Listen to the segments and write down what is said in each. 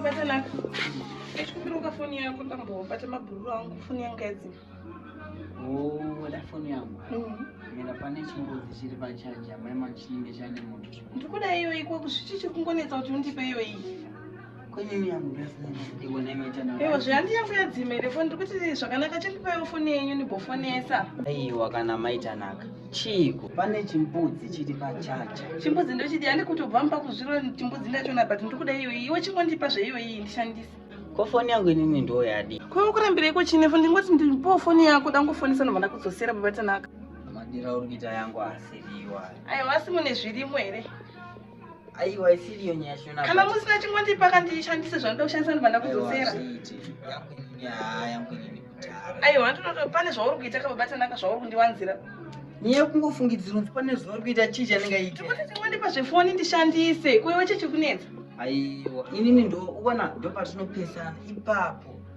Batanaka, ndikumiruka foni yako ndambobata mabhururu angu foni yanga yadzima. Woda foni yangu? Mira pane chingozi chiri pachaji amai machinenge chane moto. Ndikuda iyoyi kwakusvichi chiri kungonetsa kuti undipe iyoyi. Ewa zvihanti yangu yadzima here foni ndiri kuti zvakanaka chandipaiwo foni yenyu ndibofonesa. Aiwa kana maitanaka chiiko pane chimbudzi chiri pachacha. Chimbudzi ndochidi handi kutobva mupa kuzviro chimbudzi ndachona but ndiri kuda iyoyi iwe chingondipa zveiyoyi ndishandise. Ko foni yangu inini ndo yadi. Ko ukurambira iko chine foni ndingoti ndipowo foni yako dangofonesa ndobva ndakudzosera baba tanaka. Madira uri kuita yangu asiriwa. Aiwa asi mune zvirimo here? aiwa isiri iyo nyaya shona kana musina chingondipa kandishandise zvanoda kushandisa ndibanda kudzosera aiwa ndinoto pane zvauri kuita kababatanaka zvauri kundiwanzira nyaya yekungofungidzira unzi pane zvauri kuita chii chanenge aita tikuti tingondipa zvefoni ndishandise kuiwe chechikunetsa aiwa inini ndo uona ndopatinopesana ipapo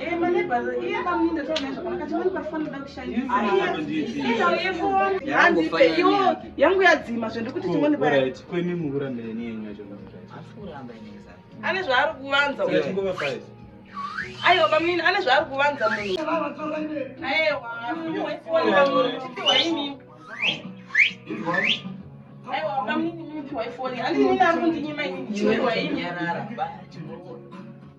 Eh, yangu yadzima zvendikuti ane zvaari kuvanza aiwa bamnini ane zvaari kuvanza munhu